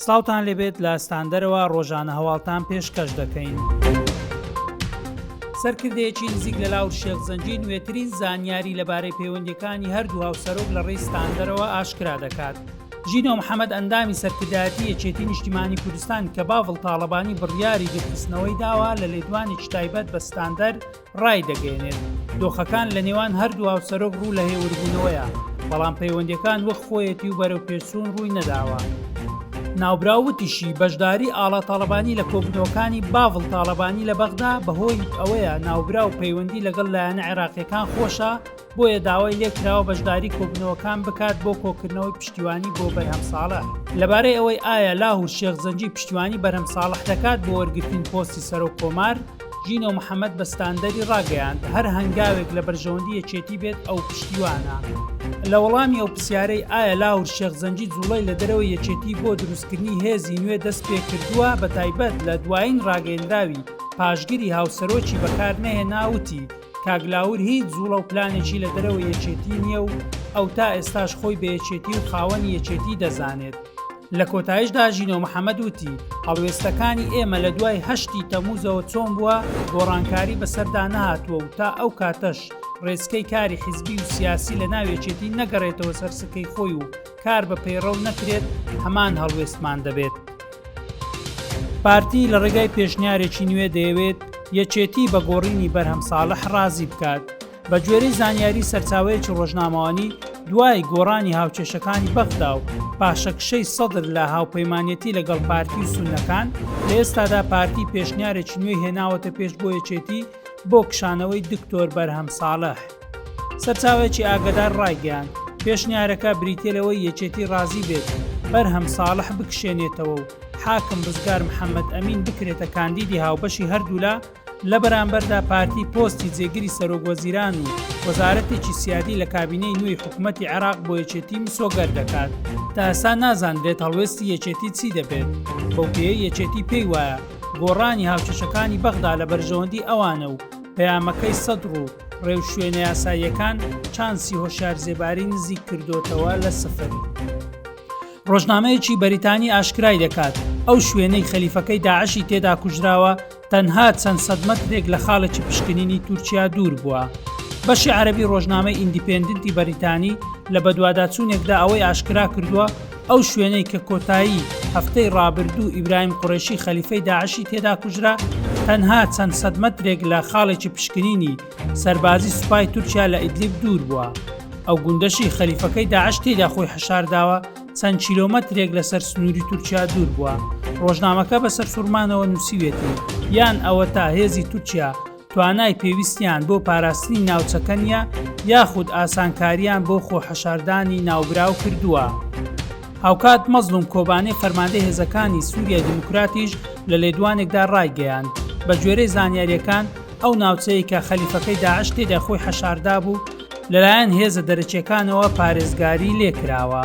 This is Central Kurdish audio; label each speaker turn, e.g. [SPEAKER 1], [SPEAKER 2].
[SPEAKER 1] ساوتان لێبێت لە ستاندەرەوە ڕۆژانە هەواڵتان پێشکەش دەکەین. سەرکردەیەکی نزیک لە لاور شێخ زەنجی نوێترین زانیاری لەبارەی پەیوەندەکانی هەردوو هاوسەرۆک لە ڕێی ستاندەرەوە ئاشکرا دەکات. ژینۆ محەممەد ئەندامی سەرکردایەتی یەکێتی نیشتیمانی کوردستان کە باڤڵ تاالبانی بڕیاری دوورخستنەوەی داوە لە لێدوانێکی تایبەت بە ستاندەر ڕایدەگەیەنێت، دۆخەکان لە نێوان هەردوو هاوسەرۆک ڕوو لە هێوربوونەوەیە، بەڵام پەیوەندییەکان وەک خۆیەتی و بەرەوپێشچوون ڕووی نەداوە. ناوبراو وتیشی، بەشداری ئاڵا تاڵەبانی لە کۆبوونەوەکانی باڤڵ تاڵەبانی لە بەغدا بەهۆی ئەوەیە ناوبراو پەیوەندی لەگەڵ لایەنە عێراقییەکان خۆشە، بۆیە داوای لێکراوە بەشداری کۆبنەوەکان بکات بۆ کۆکردنەوەی پشتیوانی بۆ بەرهەم ساڵە لەبارەی ئەوەی ئایا لاه و شێخ زەنجی پشتیوانی بەرەم ساڵح دەکات بۆ وەرگرتن پۆستی سەرۆک کۆمار ژینۆ محەممەد بە ستاندەری ڕاگەیاند هەر هەنگاوێک لە بەرژەوەندی یەکێتی بێت ئەو پشتیوانە لە وەڵامی ئەو پرسیارەی ئایا لاور شێخ زەنجی جوڵەی لە دەرەوە یەکێتی بۆ دروستکردنی هێزی نوێ دەست پێ کردووە بە تایبەت لە دوایین ڕاگەندراوی پاشگری هاوسەرۆکی بەکار نەهێناوتی کاک لاور هیچ زوڵە و پلانێکی لە دەرەوە یەکێتی نییە و ئەو تا ئێستاش خۆی بە یەکێتی و خاوەنی یەکێتی دەزانێت لە کۆتایشدا ژینۆ محەممەد وتی هەڵوێستەکانی ئێمە لە دوای هەشتی تەموزەوە چۆن بووە گۆڕانکاری بەسەردا نهاتووە و تا ئەو کاتەش ڕێسکەی کاری حیزبی و سیاسی لە ناوێچێتی نەگەڕێتەوە سەرسکەی خۆی و کار بە پەیڕەو نەکرێت هەمان هەڵوێستمان دەبێت. پارتی لە ڕێگای پێشنیارێکی نوێ دەیەوێت یەکێتی بە گۆڕینی بەرهەم ساڵح ڕازی بکات. بە گوێرەی زانیاری سەرچاوەیەکی ڕۆژنامەوانی دوای گۆڕانی هاوکێشەکانی بەغدا و پاشەکشەی سەدر لە هاوپەیمانەتی لەگەڵ پارتی و سونەکان لە ئێستادا پارتی پێشنیارێکی نوێی هێناوەتە پێش بۆ یەکێتی بۆ کشانەوەی دکتۆر بەرهەم ساڵح. سەرچاوەیەکی ئاگەدار ڕایگەیاند، پێشنیارەکە بریتییە لەوەی یەکێتی ڕازی بێت بەرهەم ساڵح بکشێنێتەوە و حاکم ڕزگار محەمەد ئەمین بکرێتە کاندیدی هاوبەشی هەردوولا، لە بەرامبەردا پارتی پۆستی جێگری سەرۆکوەزیران و وەزارەتێکی سیادی لە کابینەی نوێی حکومەتی عێراق بۆ یەکێتی مسۆگەر دەکات. تا ئێستا نازانرێت هەڵوێستی یەکێتی چی دەبێت، بەو پێیەی یەکێتی پێی وایە گۆڕانی هاوکێشەکانی بەغدا لە بەرژەوەندی ئەوانە و پەیامەکەی سەدڕ و ڕێوشوێنە یاساییەکان چانسی هۆشار زێباری نزیک کردوتەوە لە سفر. ڕۆژنامەیەکی بەریتانی ئاشکرای دەکات ئەو شوێنەی خەلیفەکەی داعشی تێدا کوژراوە تەنها چەند سەدمەترێک لە خاڵێکی پشکنینی تورکیا دوور بووە. بەشی عەربی ڕۆژنامەی ئیندیپندنتی بەریتانی لە بەدواداچوونێکدا ئەوەی ئاشکرا کردووە ئەو شوێنەی کە کۆتایی هەفتەی ڕابردوو ئیبراهیم قوڕێشی خەلیفەی داعشی تێدا کوژرا، تەنها چەند سەد مەترێک لە خاڵێکی پشکنینی سەربازی سوپای تورکیا لە ئیدلیب دوور بووە. ئەو گوندەشی خەلیفەکەی داعش تێیدا خۆی حەشارداوە، چەند کیلۆمەترێک لەسەر سنووری تورکیا دوور بووە. ڕۆژنامەکە بە سەرسوڕمانەوە نووسیویەتی، یان ئەوەتا هێزی تورکیا، توانای پێویستیان بۆ پاراستنی ناوچەکە نیە یاخود ئاسانکاریان بۆ خۆ حەشاردانی ناوبراو کردووە. هاوکات مەزڵوم کۆبانێ فەرماندەی هێزەکانی سوریای دیموکراتیش لە لێدوانێکدا ڕایگەیاند، بەگوێرەی زانیارییەکان ئەو ناوچەیەی کە خەلیفەکەی داعش تێدا خۆی حەشاردابوو، لەلایەن هێزە دەرەکیەکانەوە پارێزگاری لێکراوە.